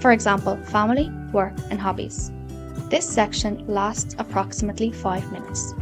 For example, family, work and hobbies. This section lasts approximately five minutes.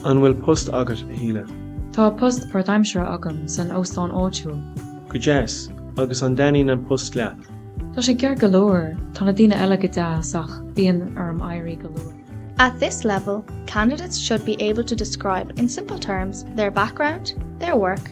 An bhfuil post agat, a Shíle? Tá post páirtaimseartha agam san óstán áitiúil. Go deas! Agus an dtaitníonn an post leat? Tá sé ceart go leor, tá na daoine eile go deas ach bíonn orm éirí go luath. At this level, candidates should be able to describe in simple terms their background, their work,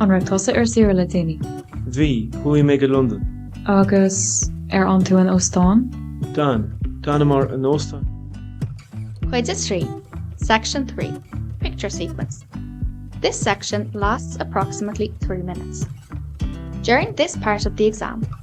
An raibh tusa ar saoire le déanaí? Bhí, chuaigh mé go Londain. Agus ar fhan tú in óstán? D'fhan, d'fhanamar in óstán. Cuid 3, Section 3, Picture Sequence This section lasts approximately three minutes. During this part of the exam,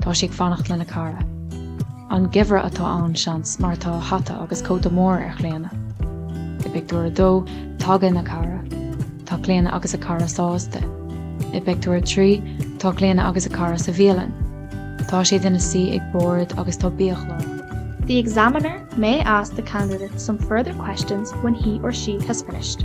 Tá sí ag fanacht lena cara. An geimhreadh atá ann, seans, mar tá hata agus cóta mór ar Chlíona. I bpictiúr a dó, tagann a cara. Tá Clíona agus a cara sásta. I bpictiúr a trí, tá Clíona agus a cara sa bhialann. Tá siad ina suí ag bord agus tá biachlár. The examiner may ask the candidate some further questions when he or she has finished.